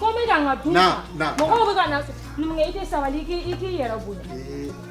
Ko bɛ ka na dun. Na na. Mɔgɔw bɛ ka na. Numukɛ i tɛ sabali i k'i i k'i yɛrɛ bonya.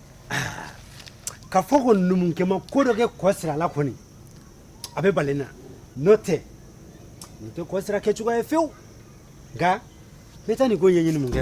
ka fɔ ko numukɛ ma ko dɔ kɛ kɔsira la kɔni a bɛ bala n na n'o tɛ nin tɛ kɔsira kɛ cogoya ye fewu nka ne taa nin ko ɲɛɲini numukɛ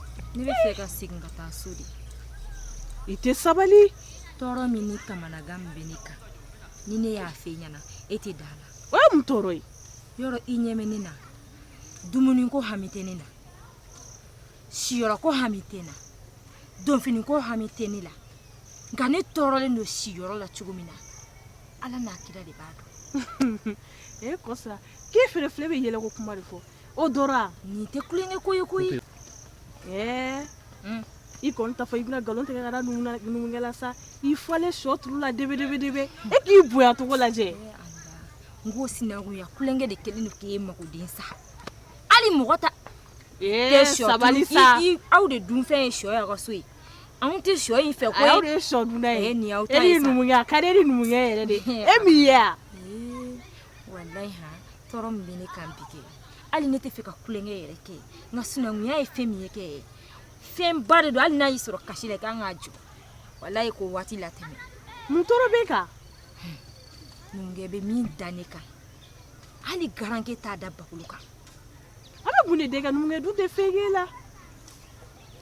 ne bɛ fɛ ka segin ka taa so de i tɛ sabali tɔɔrɔ min ni kamanagan min bɛ ne kan ni ne y'a fɔ e ɲɛna e tɛ da a la o ye mun tɔɔrɔ ye yɔrɔ i ɲɛ bɛ ne na dumuni ko hami tɛ ne na siyɔrɔ ko hami tɛ n na donfini ko hami tɛ ne la nka ne tɔɔrɔlen don siyɔrɔ la cogo min na ala n'a kira de b'a dɔn e kɔsira k'e fɛnɛ filɛ bɛ yɛlɛko kuma de fɔ o dɔra nin tɛ tulonkɛ ko ye koyi ɛɛ i kɔni t'a fɔ i bɛna nkalon tigɛ ka da numukɛ la sa i falen sɔ turu la debedebedebe e k'i bonya cogo lajɛ n k'o sinankunya tulonkɛ de kɛlen don k'e magoden sa hali mɔgɔ ta tɛ sɔ sabali sa aw de dunfɛn ye sɔ y'aw ka so ye anw tɛ sɔ in fɛ ko aw de ye sɔ dunna ye nin y'aw ta ye sa e ni numukɛ a ka di e ni numukɛ yɛrɛ de ye min ye a walayi ha tɔɔrɔ min bɛ ne kan bi kɛ hali ne t'a fɛ ka tulonkɛ yɛrɛ kɛ nka sinankunya ye fɛn min ye kɛ fɛnba de don hali n'a y'i sɔrɔ kasi la i ka kan k'a jɔ walayi k'o waati latɛmɛ mun tɔɔrɔ b'e kan numukɛ bɛ min da ne kan hali garanke t'a da bagolo kan a bɛ mun de da e kan numukɛ dun tɛ fɛn k'e la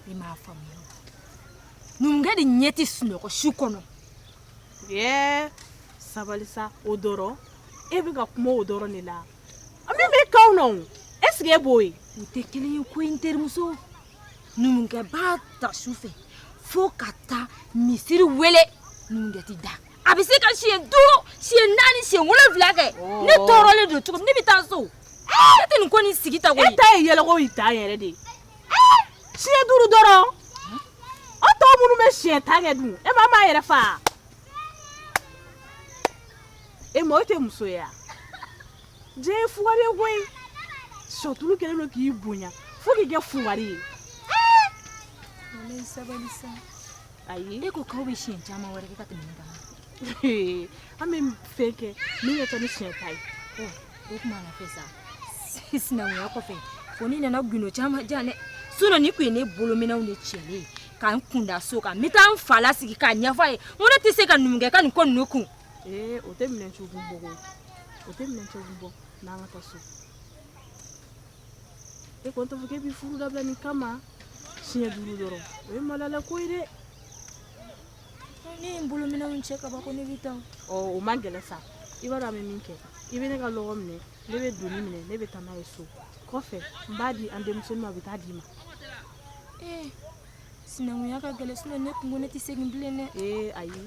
i m'a faamuya numukɛ de ɲɛ tɛ sunɔgɔ su kɔnɔ Ɛɛ sabali sa o dɔrɔn e bɛ ka kuma o dɔrɔn de la a min bɛ k'anw na est-ce que e b'o ye u tɛ kelen ye koyi n terimuso numukɛ b'a ta su fɛ fo ka taa misiri wele numukɛ tɛ da a bɛ se ka siɲɛ duuru siɲɛ naani siɲɛ wolonwula kɛ ne tɔɔrɔlen don cogo ne bɛ taa so ne tɛ nin ko nin sigi ta e ta ye yɛlɛko ta yɛrɛ de ye siɲɛ duuru dɔrɔn o tɔ minnu bɛ siɲɛ tan kɛ dun e ma m'a yɛrɛ fa e ma o tɛ muso ye wa diɲɛ ye fugari ye koyi sɔtulu kɛlen don k'i bonya fo k'i kɛ fugari ye ayi e ko k'aw bɛ siɲɛ caman wɛrɛ kɛ ka tɛmɛ ne kan an bɛ fɛn kɛ min ka ca ni siɲɛ tan ye o tuma na fɛ sa sinankunya kɔfɛ fo n'i nana gundo caman jan dɛ sinɔn ne kun ye ne bolominɛnw de cɛlen ye ka n kun da so kan n bɛ taa n fa lasigi k'a ɲɛfɔ a ye n ko ne tɛ se ka numukɛ ka nin ko ninnu kun. ee o tɛ minɛn cɛ ko bɔ koyi o tɛ minɛn cɛ ko bɔ n'an ka taa so e kɔni t'a fɔ k'e b'i furu dabila nin kama siɲɛ duuru dɔrɔn o ye malala ko ye dɛ. ne ye n bolo minɛnw cɛ ka ban ko ne bɛ taa ɔ o man gɛlɛn sa i b'a dɔn an bɛ min kɛ i bɛ ne ka lɔgɔ minɛ ne bɛ doni minɛ ne bɛ taa n'a ye so kɔfɛ n b'a di an denmusonin ma a bɛ taa d'i ma ee sinankunya ka gɛlɛn sinɔn ne kun ko ne tɛ segin bilen dɛ ee ayi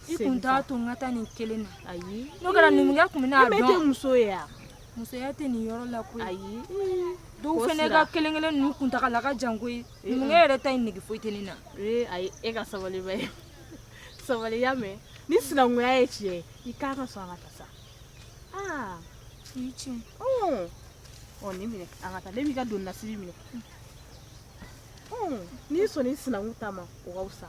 i kun t'a to n ka taa nin kelen na ayi n'o kɛra numukɛ kun bɛna a dɔn i tɛ muso ye yan musoya tɛ nin yɔrɔ la koyi ayi dɔw fana ka kelen kelen ninnu kuntagala ka jan koyi numukɛ yɛrɛ ta in nege foyi tɛ ne na ee ayi e ka sabali ba ye sabali y'a mɛn ni sinankunya ye tiɲɛ i ka kan ka sɔn an ka taa sa aa o ye tiɲɛ ɔ nin minɛ an ka taa ne b'i ka doni nasiri minɛ n'i sɔnn'i sinankun ta ma o ka fisa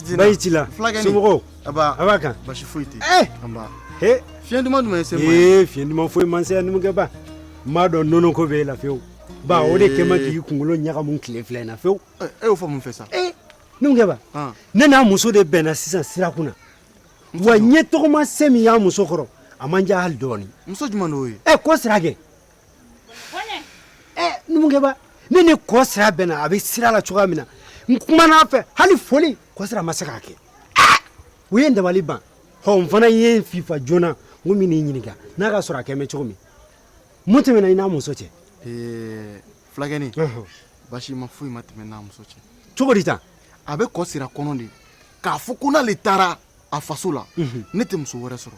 bayi ci la somɔgɔw a b'a kan basi foyi tɛ eh! fiɲɛ duman jumɛn se ee fiɲɛ duman foyi man se yan numukɛ ba n b'a dɔn nɔnɔ ko b'e la fewu ba o de kɛlen bɛ k'i kunkolo ɲagamu tile fila in na fewu eh, e y'o fɔ mun fɛ sa eh, numukɛ ba ah. ne n'a muso de bɛnna sisan sira kun na wa n ye tɔgɔmasiyɛn min y'a muso kɔrɔ a ma n diya hali dɔɔnin muso jumɛn de y'o ye ɛ kɔ sira kɛ numukɛ ba ne ni kɔ sira bɛnna a bɛ sira la cogoya min na n kumana a fɛ hali foli kɔ sira ma se k'a kɛ o ye n dabali ban hɔ n fana ye n fifa joona n ko n bɛ n'i ɲininka n'a k'a sɔrɔ a kɛlen bɛ cogo min mun tɛmɛna i n'a muso cɛ fulakɛni basi ma foyi ma tɛmɛ n'a muso cɛ cogo di tan a bɛ kɔ sira kɔnɔ de k'a fɔ ko n'ale taara a faso la ne tɛ muso wɛrɛ sɔrɔ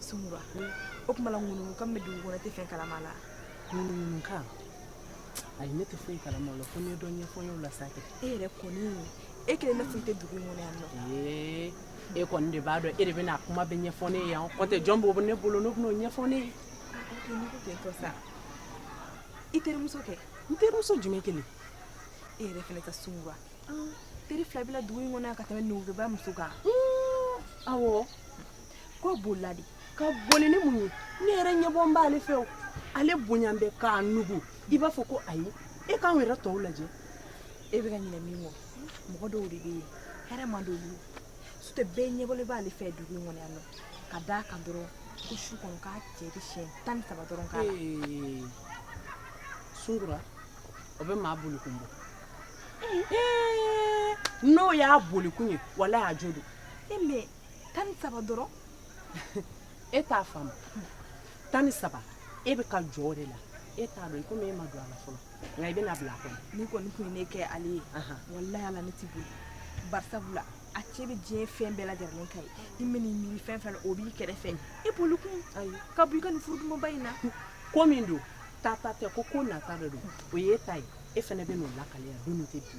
Sunkura o tuma ŋunukan bɛ dugu kɔnɔ e tɛ fɛn kalama la ŋunukan ayi ne tɛ foyi kalama o la fo n'e ye dɔ ɲɛfɔ n ye o la sa e yɛrɛ kɔni e kelen ne tun tɛ dugu in kɔnɔ yan e kɔni de b'a dɔn e de bɛna kuma bɛɛ ɲɛfɔ ne ye yan n'o tɛ jɔn bɛ ne bolo min bɛn'o ɲɛfɔ ne ye sa i terimuso kɛ n terimuso jumɛn kelen e yɛrɛ fana kɛ sunkura teri fila b'i la dugu in kɔnɔ ka tɛmɛ Nuguba muso kan aw K'o bolila de ka boli ni mun ye ne yɛrɛ ɲɛbɔlen b'ale fɛ o ale bonya bɛ k'a nugu i b'a fɔ ko ayi e k'anw yɛrɛ tɔw lajɛ e bɛ ka ɲinɛ min kɔ mɔgɔ dɔw de bɛ yen hɛrɛ man d'olu ye sutɛ bɛɛ ɲɛbɔlen b'ale fɛ dugu in kɔnɔ yan nɔ ka d'a kan dɔrɔn ko su kɔnɔ k'a cɛ bɛ siɲɛ tan ni saba dɔrɔn k'a la Ee, sunkura o bɛ maa bolikun bɔ Ee, n'o y'a bolikun ye wala y'a jo don e mɛ tan ni saba dɔrɔn e t'a faamu tan ni saba e bɛ ka jɔ o de la e t'a dɔn komi e ma don a la fɔlɔ nka i bɛna bila a kɔnɔ n'i kɔni tun ye ne kɛ ale ye walayi ala ne tɛ boli barisabula a cɛ bɛ diɲɛ fɛn bɛɛ lajɛlen k'a ye i mana miiri fɛn fɛn o b'i kɛrɛfɛ e boli kun ayi ka bɔ i ka nin furudumanba in na ko min don ta ta tɛ ko ko nata de don o ye e ta ye e fana bɛn'o lakale yan don min tɛ bi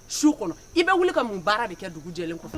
su kɔnɔ i bɛ wuli ka mun baara de kɛ dugu jɛlen kɔfɛ